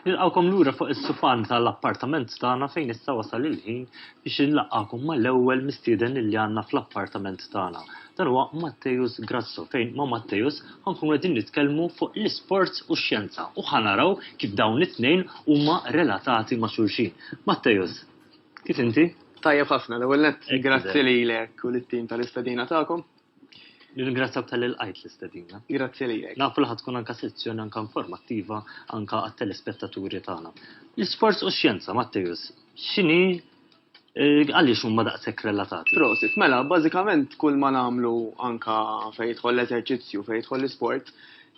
Nilqgħukom lura fuq is-sufan tal-appartament tagħna fejn issa wasal il-ħin biex inlaqqakom mal-ewwel mistieden li għandna fl-appartament tagħna. Dan huwa Mattejus Grasso fejn ma' Mattejus ħankunu qegħdin nitkellmu fuq l-isport u x-xjenza u ħanaraw kif dawn it-tnejn huma relatati ma' xulxin. Mattejus, kif inti? Tajjeb ħafna l-ewwel nett. Grazzi lilek u lit-tim tal-istedina tagħkom. Nirringrazzjak tal il-qajt l-istedina. Grazzi lilek. Nafu li ħatkun anka sezzjoni anka informattiva anka għat-telespettaturi tagħna. L-isforz u xjenza, Matteus, x'inhi eh, għaliex huma daqshekk relatati? Prosit, mela, bażikament kull ma nagħmlu anka fejn jidħol l-eżerċizzju, fejn jidħol l-isport,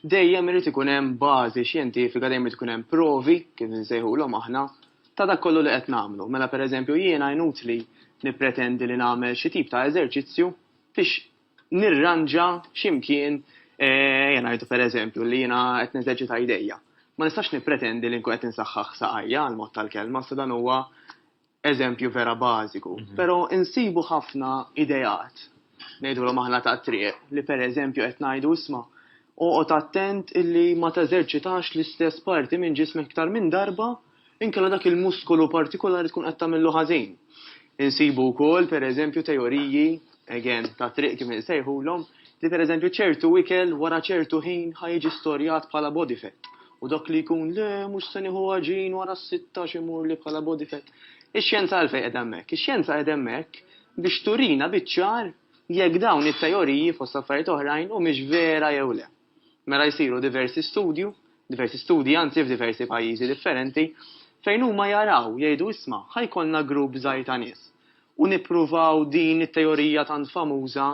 dejjem irid ikun hemm bażi xjentifika, dejjem irid ikun hemm provi, kif nsejħulhom aħna, ta' dak kollu li qed nagħmlu. Mela pereżempju jiena jnut li nippretendi li nagħmel xi tip ta' eżerċizzju biex nirranġa xi mkien, ejja ngħidu pereżempju li jiena qed neżerċita jdejja. Ma nistax nippretendi li nkun qed insaħħaħ saqajja għal mod tal-kelma, sa dan huwa eżempju vera bażiku. Però insibu ħafna ideat, ngħidulhom aħna tat-triq, li pereżempju qed ngħidu isma' oqgħod attent illi ma teżerċitax l-istess parti minn ġismek iktar minn darba, Inkella dak il-muskolu partikolari tkun qed tagħmillu ħażin. Insibu wkoll pereżempju teoriji, again, ta' triq kif insejħulhom, li pereżempju ċertu ikel wara ċertu ħin ħa jiġi storjat bħala body fat. U dak li jkun le mhux se nieħu għaġin wara s-sitta x'imur li bħala body fat. Ix-xjenza għalfejn qed hemmhekk? Ix-xjenza qed hemmhekk biex turina biċ-ċar jekk dawn it-teoriji fost affarijiet oħrajn humiex vera jew le. Mela jsiru diversi studju, diversi studji anzi f'diversi pajjiżi differenti, fejn huma jaraw, jgħidu isma' ħa jkollna grupp żgħir ta' nies u nippruvaw din it-teorija tant famuża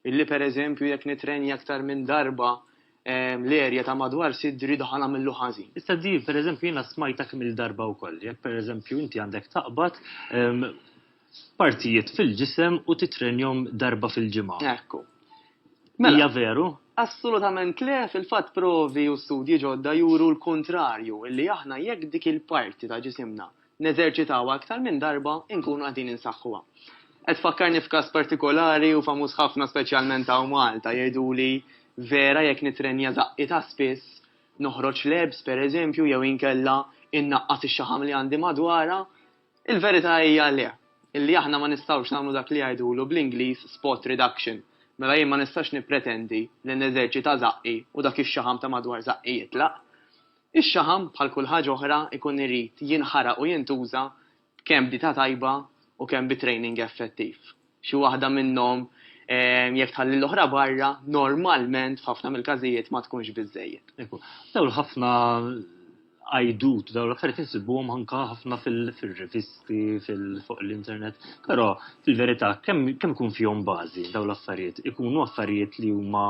illi pereżempju jekk nitrenja aktar minn darba l-erja ta' madwar sidri daħal għamillu ħażin. Issa din pereżempju jiena smajtha kemm-il darba wkoll, jekk pereżempju inti għandek taqbad, partijiet fil-ġisem u titrenjhom darba fil-ġimgħa. Ekku. Mela. Hija veru? Assolutament le, fil-fatt provi u studji ġodda juru l-kuntrarju, illi aħna jekk dik il-parti ta' ġisimna neżerċitawha aktar minn darba inkunu qegħdin insaħħuha. Qed tfakkarni f'każ partikolari u famuż ħafna speċjalment hawn Malta, jgħiduli vera jekk nitrenja żaqqi ta' spiss, noħroġ lebs, pereżempju, jew inkella innaqqas ix-xaħam li għandi madwarha, Il-verità hija le, illi aħna ma nistgħux nagħmlu dak li jgħidulu bl-Ingliż spot reduction, mela jien ma nistax nippretendi li neżerċita żaqqi u dak ix-xaħam ta' madwar żaqqi jitlaq. Ix-xaħam, bħal kull ħaġa oħra, ikun irid jinħaraq u jintuża kemm b'dieta tajba u kemm bi training effettiv. xi waħda minnhom jekk tħalli l-oħra barra, normalment f'ħafna mill-każijiet ma tkunx biżejjed. Dawl ħafna għajdut, dawl affarijiet insibuhom anka ħafna fil-rivisti, fuq l-internet, però fil-verità kemm ikun fihom bażi dawl affarijiet, ikunu affarijiet li huma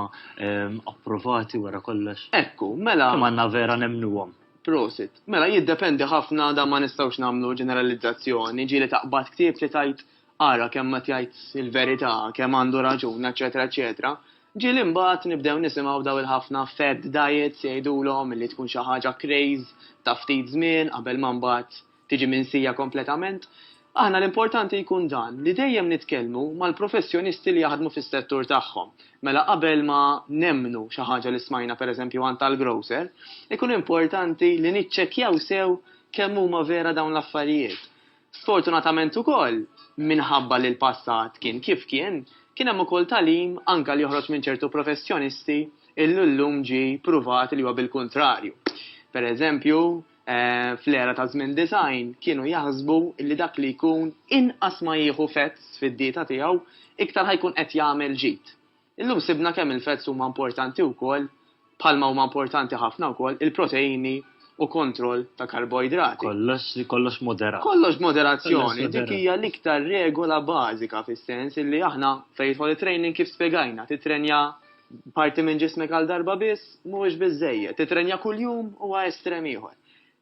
approvati wara kollox. Ekku, mela. Kemm għandna vera nemmnuhom. Prosit. Mela jiddependi ħafna da ma nistgħux nagħmlu ġeneralizzazzjoni, ġieli taqbad ktieb li tajt ara kemm qed jgħid il-verità, kemm għandu raġun, eċċetera eċċetera, ġieli mbagħad nibdew nisimgħu daw il-ħafna fad diets jgħidulhom li tkun xi ħaġa craze ta' ftit żmien qabel ma mbagħad tiġi minsija kompletament. Aħna l-importanti jkun dan, li dejjem nitkellmu mal-professjonisti li jaħdmu fis-settur tagħhom. Mela qabel ma nemmnu xi ħaġa li smajna pereżempju għand tal-grocer, ikun importanti li niċċekkjaw sew kemm huma vera dawn l-affarijiet. Sfortunatament ukoll, minħabba li l-passat kien kif kien, kien hemm ukoll tagħlim anke li joħroġ minn ċertu professjonisti illi llum ġie pruvat li huwa bil-kuntrarju. Per eżempju, fl-era ta' żmien disgħin kienu jaħsbu li dak li jkun inqas ma jieħu fets fid-dieta tiegħu iktar ħa jkun qed jagħmel ġid. Illum sibna kemm il-fats huma importanti wkoll, bħalma huma importanti ħafna wkoll il-proteini u kontroll ta' karboidrati. Kollox, kollox moderat. Kollox b'moderazzjoni, dik hija l-iktar regola bażika fis-sens illi aħna fejn jidħol it-training kif spjegajna, tittrenja parti minn ġismek għal darba biss mhuwiex biżżejjed, tittrenja kuljum huwa estrem ieħor.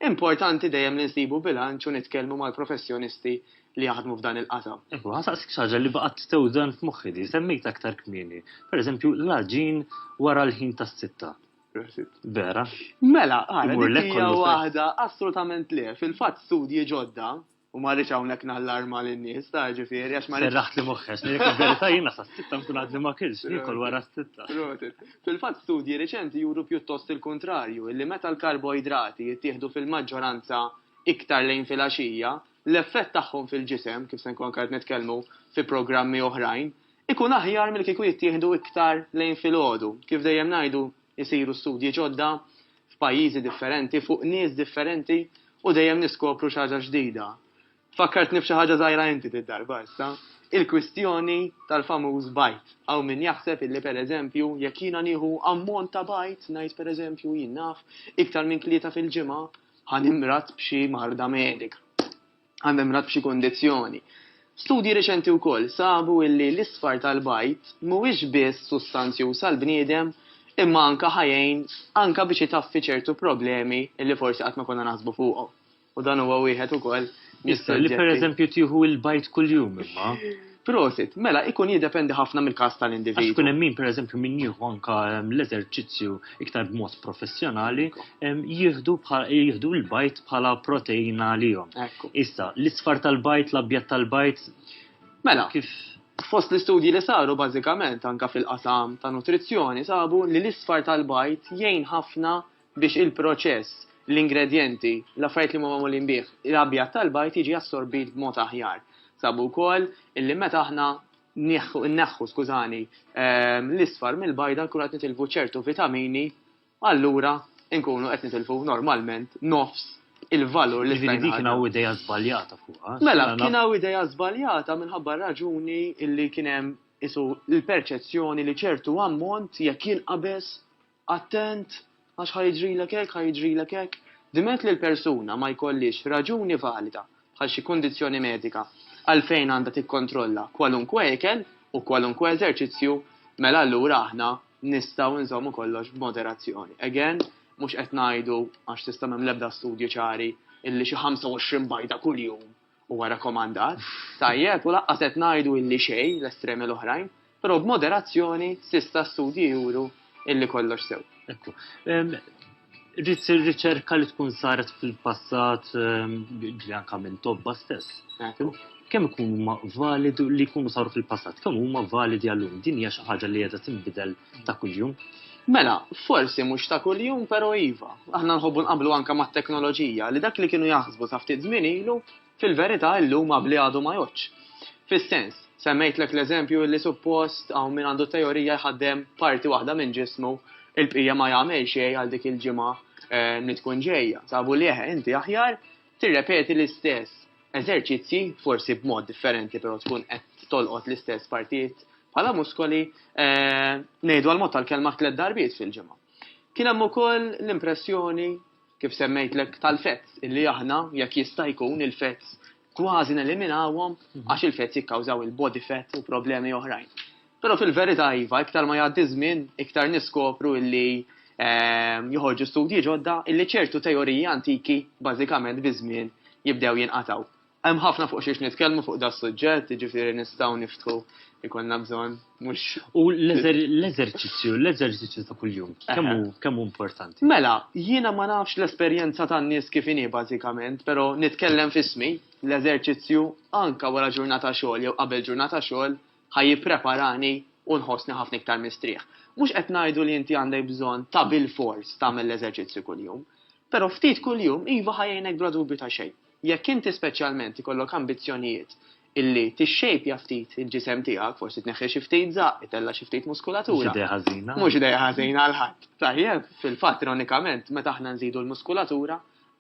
Importanti dejjem li nsibu bilanċ u nitkellmu mal-professjonisti li jaħdmu f'dan il-qasam. Hu nsaqsik xi ħaġa li baqgħet tewżan f'moħħi li semmejt aktar kmieni, pereżempju l-għaġin wara l-ħin tas-sitta. Prosit. Vera? Mela, ara, dik hija waħda assolutament le. Fil-fatt studji ġodda, U ma rridx hawnhekk nallarma lin-nies ta' ġifieri għax ma rridx. Serraħt li moħħex, verità jiena sa sitta nkun għadni ma kienx, nikol wara sitta. Fil-fatt studji riċenti juru pjuttost il-kuntrarju, illi meta l-karboidrati jittieħdu fil-maġġoranza iktar lejn filgħaxija, l-effett tagħhom fil-ġisem, kif se nkun anke qed nitkellmu fi programmi oħrajn, ikun aħjar milli kieku jittieħdu iktar lejn filgħodu. Kif dejjem ngħidu jsiru studji ġodda, f'pajjiżi differenti, fuq nies differenti u dejjem niskopru xi ħaġa ġdida. Fakkartni b'xi ħaġa żgħira inti dik darba issa. Il-kwistjoni tal-famuż bajd. Hawn min jaħseb illi per eżempju jekk jiena nieħu ammont ta' bajd, ngħid per eżempju, jien naf, iktar minn tlieta fil-ġimgħa, ħa nimrad b'xi marda medika. għall-membrat b'xi kundizzjoni. Studji reċenti wkoll sabu illi l-isfar tal-bajd mhuwiex biss sustanzjuż għall-bniedem imma anke ħa jgħin anke biex itaffi ċertu problemi illi forsi qatt ma konna naħsbu fuqhom. U dan huwa wieħed ukoll mis-suġġetti. Li pereżempju tieħu l-bajd kuljum imma. Prosit, mela ikun jiddependi ħafna mill-każ tal-individwu. Għax ikun hemm min pereżempju min jieħu anke l-eżerċizzju iktar b'mod professjonali jieħdu jieħdu l-bajt bħala proteina għalihom. Issa, l-isfar tal-bajt, l-abjad tal-bajt. Mela, kif fost l-istudji li saru bażikament anke fil-qasam ta' nutrizzjoni sabu li l-isfar tal-bajt jgħin ħafna biex il-proċess, l-ingredjenti, l-affarijiet li huma magħmulin bih, l-abjad tal-bajd jiġi assorbit b'mod aħjar. Sabu wkoll illi meta aħna nneħħu, skużani, ehm, l-isfar mill-bajda nkunu qed nitilfu ċertu vitamini, allura nkunu qed nitilfu normalment nofs il-valur li stajna. Dik kien hawn ideja żbaljata fuqha. Mela, kien hawn ideja żbaljata minħabba raġuni illi kien hemm isu l-perċezzjoni li ċertu ammont jekk jinqabes Attent, għax ħa jiġrilek hekk, ħa jiġrilek hekk. Diment li l-persuna ma jkollhiex raġuni valida, bħal xi kundizzjoni medika, għalfejn għandha tikkontrolla kwalunkwe ikel u kwalunkwe eżerċizzju, mela allura aħna nistgħu nżommu kollox b'moderazzjoni. Again, mhux qed ngħidu, għax s'issa m'hemm l-ebda studji ċari, illi xi 25 bajta kuljum Huwa rakkomandat, tajjeb u lanqas qed ngħidu illi xejn l-estremi l-oħrajn, però b'moderazzjoni s'issa studji juru illi kollox sew. Ekku. Rrid issir riċerka li tkun saret fil-passat ġli anke minn tobba stess. Ekku. Kemm ikunu huma validi li jkunu saru fil-passat, kemm huma validi għallum. Din hija xi ħaġa li qiegħda tinbidel Ta' kuljum. Mela, forsi mhux ta' kuljum, però iva. Aħna nħobbu nqablu anke mat-teknoloġija li dak li kienu jaħsbu sa ftit żmien ilu, fil-verità illum qabli għadu ma jgħoddx. Fis-sens, semmejtlek l-eżempju li suppost hawn min għandu teorija jħaddem parti waħda minn ġismu, il-bqija ma jagħmel xejn għal dik il-ġimgħa li tkun ġejja. Sabu li eħe, inti aħjar Tirrepeti l-istess eżerċizzji, forsi b'mod differenti però tkun qed tolqot l-istess partijiet bħala muskoli, ngħidu għall-mod tal-kelma tliet darbiet fil-ġimgħa. Kien hemm ukoll l-impressjoni, kif semmejtlek, tal-fats, illi aħna, jekk jista' jkun, il-fats kważi neliminawhom għax il-fats jikkawżaw il-body fat u problemi oħrajn. Però fil-verità iva, iktar ma jgħaddi ż-żmien, iktar niskopru illi ehm, joħorġu studji ġodda illi ċertu teoriji antiki bażikament biż-żmien jibdew jinqataw. Hemm ħafna fuq xiex nitkellmu fuq da suġġett, jiġifieri nistgħu niftħu jkollna bżonn mhux. U l-eżerċizzju, l-eżerċizzju ta' kuljum, kemm hu importanti? Mela, jiena ma nafx l-esperjenza tan-nies kif inhi bażikament, però nitkellem fismi l-eżerċizzju anka wara ġurnata xogħol jew qabel ġurnata xogħol Ħa jippreparani u nħossni ħafna iktar mistrieħ. Mhux qed ngħidu li inti għandek bżonn ta' bilfors tagħmel l-eżerċizzju kuljum. Però ftit kuljum iva ħa jgħinek bla dubju ta' xejn. Jekk inti speċjalment ikollok ambizzjonijiet illi tixxejpja ftit il-ġisem tiegħek, forsi tneħħi xi ftit żaqq, itella' xi ftit muskulatura. Mhux idea ħażina. Mhux idea ħażina għal ħadd. Tajjeb, fil-fatt ironikament meta aħna nżidu l-muskulatura,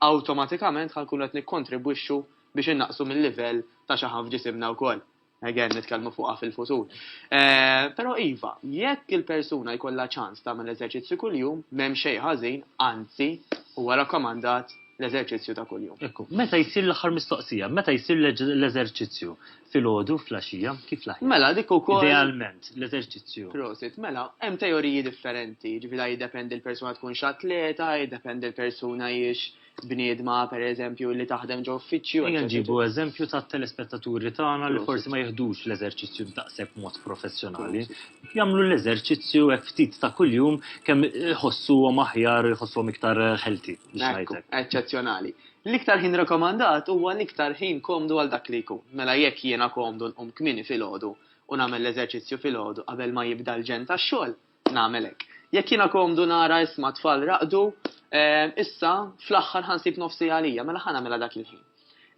awtomatikament ħa nkunu qed nikkontribwixxu biex innaqqsu mil-livell ta' xaħam f'ġisimna wkoll. Again, nitkellmu fuqha fil-futur. Eh, però iva, jekk il-persuna jkollha ċans tagħmel eżerċizzju kuljum, m'hemm xejn ħażin, anzi, huwa rakkomandat l-eżerċizzju ta' kuljum. Ekku, meta jsir l-aħħar mistoqsija, meta jsir l-eżerċizzju fil-ħodu, fl-axija, kif laħi? Mela, dik ukoll. Idealment, l-eżerċizzju. Prosit, mela, hemm teoriji differenti, ġifieri jiddependi l-persuna tkun x'atleta, jiddependi l-persuna jiex bniedma per eżempju li taħdem ġo uffiċċju. Ejja nġibu eżempju ta' telespettaturi tagħna li forsi ma jihdux l-eżerċizzju daqshekk mod professjonali. Jagħmlu l-eżerċizzju hekk ftit ta' kuljum kemm iħossuhom aħjar, iħossuhom iktar ħelti. Eċċezzjonali. L-iktar ħin rekomandat huwa l-iktar ħin komdu għal dak li jkun. Mela jekk jiena komdu nqum kmini fil-ħodu u nagħmel l-eżerċizzju fil-ħodu qabel ma jibda l-ġen tax-xogħol, Nagħmel hekk. Jekk jiena komdu nara isma' t-tfal raqdu, issa, fl-aħħar ħa nsib nofs siegħa għalija, mela ħa nagħmilha dak il-ħin.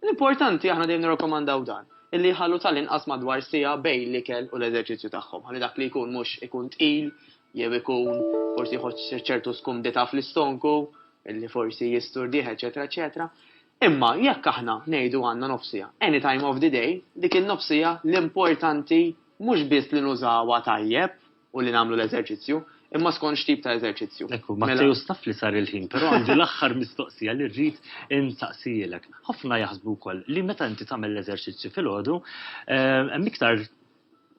L-importanti, aħna dejjem nirrakkomandaw dan, illi jħallu tal-inqas madwar siegħa bejn l-ikel u l-eżerċizzju tagħhom, ħalli dak li jkun mhux ikun tqil jew ikun forsi jħoġġ ċertu skumdità fl-istonku illi forsi jisturdih, eċetera, eċetera. Imma jekk aħna ngħidu għandna nofsija, any time of the day, dik il-nofsija l-importanti mhux biss li nużawha tajjeb, u li nagħmlu l-eżerċizzju, imma skont x'tip ta' eżerċizzju. Ekku, ma mela- taf li sar il-ħin, però għandi l-aħħar mistoqsija li rrid insaqsijilek. Ħafna jaħsbu wkoll li meta inti tagħmel l-eżerċizzju fil-għodu, eh, hemm iktar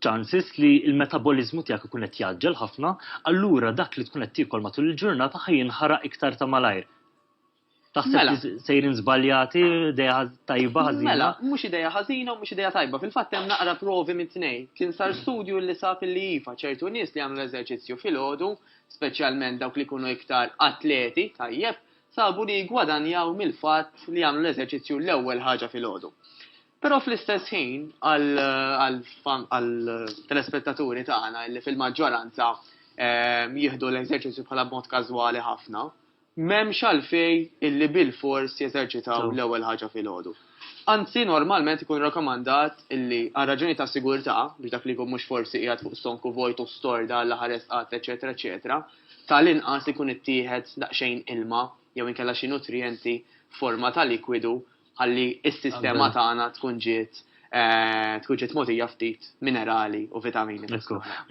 chances li il-metabolizmu tiegħek ikun qed jaġġel ħafna, allura dak li tkun qed tiekol matul il-ġurnata ħajinħaraq iktar ta' malajr. Taħseb Mela. li sejrin żbaljati, idea ħaz- tajba ħażina? Mela, mhux idea ħażina u mhux idea tajba. Fil-fatt hemm naqra provi mit-tnejn. Kien sar studju li sab li iva, ċertu nies li jagħmlu l-eżerċizzju filgħodu, speċjalment dawk li jkunu iktar atleti, tajjeb, sabu li jiggwadanjaw mill-fatt li jagħmlu l-eżerċizzju l-ewwel ħaġa filgħodu. Però fl-istess ħin għal- għal fan- għal telespettaturi tagħna li fil-maġġoranza eh, jieħdu l-eżerċizzju bħala b'mod każwali ħafna, M'hemmx għalfejn illi bilfors jeżerċitaw l-ewwel ħaġa filgħodu. Anzi, normalment ikun rakkomandat illi, għal raġunijiet ta' sigurtà, biex dak li jkun mhux forsi qiegħed fuq stonku vojt u storda għall-aħħar resqat, eċċetera, eċċetera, ta' l-inqas ikun ittieħed daqsxejn ilma jew inkella xi nutrijenti f'forma ta' likwidu ħalli s-sistema tagħna tkun ġiet eh, tkun ġiet mogħtija ftit minerali u vitamini.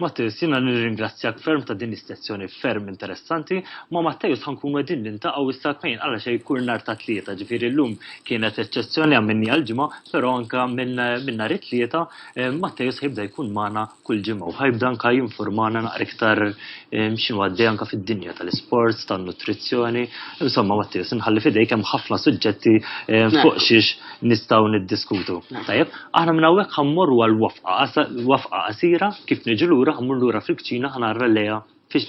Mattis, jiena nirringrazzjak ferm ta' din is-sezzjoni ferm interessanti, ma Mattejus ħankun qegħdin nintaqgħu issa tnejn għala xejn kull nhar ta' tlieta, ġifieri llum kienet eċċezzjoni għamminni għal-ġimgħa, però anka minn nhar it-tlieta eh, Mattejus ħibda jkun magħna kull ġimgħa u ħajbda anka jinfurmana naqra iktar ehm, x'inhu għaddej anka fid-dinja tal-isports, tan-nutrizzjoni. Insomma, Mattia, sinħalli fidejk hemm ħafna suġġetti ehm, fuq xiex nistgħu niddiskutu. Tajjeb, aħna minn hawnhekk ħammorru għal wafqa qasira kif niġu lura ħammur lura fil-kċina ħanarra lejha fiex